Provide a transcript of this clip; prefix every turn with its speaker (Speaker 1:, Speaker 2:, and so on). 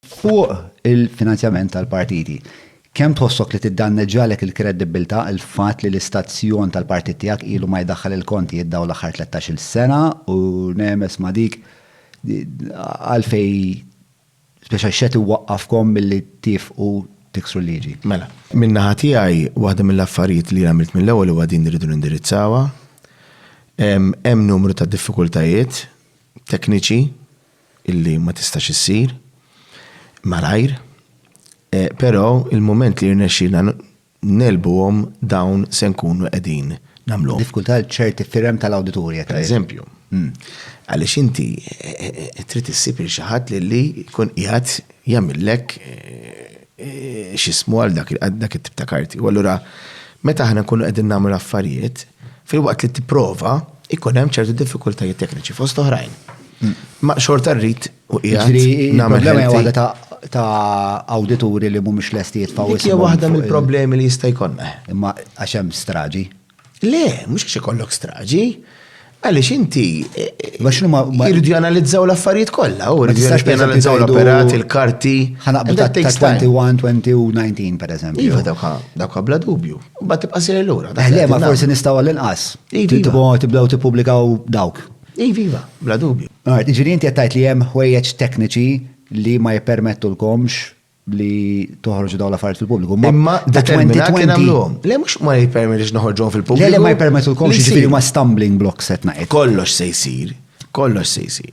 Speaker 1: Fuq il-finanzjament tal-partiti, kemm tħossok li tiddanneġġalek il-kredibbiltà l-fatt li l-istazzjon tal-partit tiegħek ilu ma jdaħħal il-kontijiet dawn l-aħħar tlettax-il sena u nemes ma' dik għalfejn speċa x'qed iwaqqafkom milli tiefqu tiksru l-liġi? Mela, min-naħa
Speaker 2: tiegħi waħda mill-affarijiet li għamilt mill-ewwel huwa din li rridu nindirizzawha. Hemm numru ta' diffikultajiet tekniċi. illi ma tistax issir malajr, però il-mument li jirnexxielna ngħelbuhom dawn se nkunu qegħdin nagħmluhom. Diffikultà għal ċerti
Speaker 1: firem tal-awdituri qed tgħid. Pereżempju.
Speaker 2: Għaliex inti trid issib lil xi ħadd lilli jkun qiegħed jagħmillek x'ismu għal dak it-tip ta' karti. U allura meta aħna nkunu qegħdin nagħmlu l-affarijiet, Filwaqt li tipprova, ikun hemm ċertu diffikultajiet tekniċi fost oħrajn. Ma xorta rrid u qiegħed nagħmel ħelti.
Speaker 1: ta' awdituri li mhumiex lesti jitfgħu Dik hija waħda mill-problemi
Speaker 2: li jista' jkollna. Imma għax hemm
Speaker 1: straġi. Le, mhux
Speaker 2: għax ikollok straġi. Għaliex inti jridu janalizzaw l-affarijiet kollha, u jridu janalizzaw l-operat, il-karti. Ħanaqbdu ta' 21, 2019
Speaker 1: pereżempju. Iva, dawk
Speaker 2: bla dubju. Ma tibqa' sejr lura. Eh, le, ma forsi nistgħu
Speaker 1: għall-inqas. Tibdew tippubblikaw dawk. Iva, iva, bla
Speaker 2: dubju. Għart, ġiri inti għattajt li
Speaker 1: jem ħwejjeġ tekniċi li ma jipermettu l-komx li toħorġu daw l-affarijiet fil-pubbliku. Imma da 2020.
Speaker 2: Le mux ma jipermettu noħorġu fil-pubbliku. Le ma jipermettu
Speaker 1: l-komx ġifiri ma stumbling blocks etna. Kollox
Speaker 2: se jisir, kollox se jisir.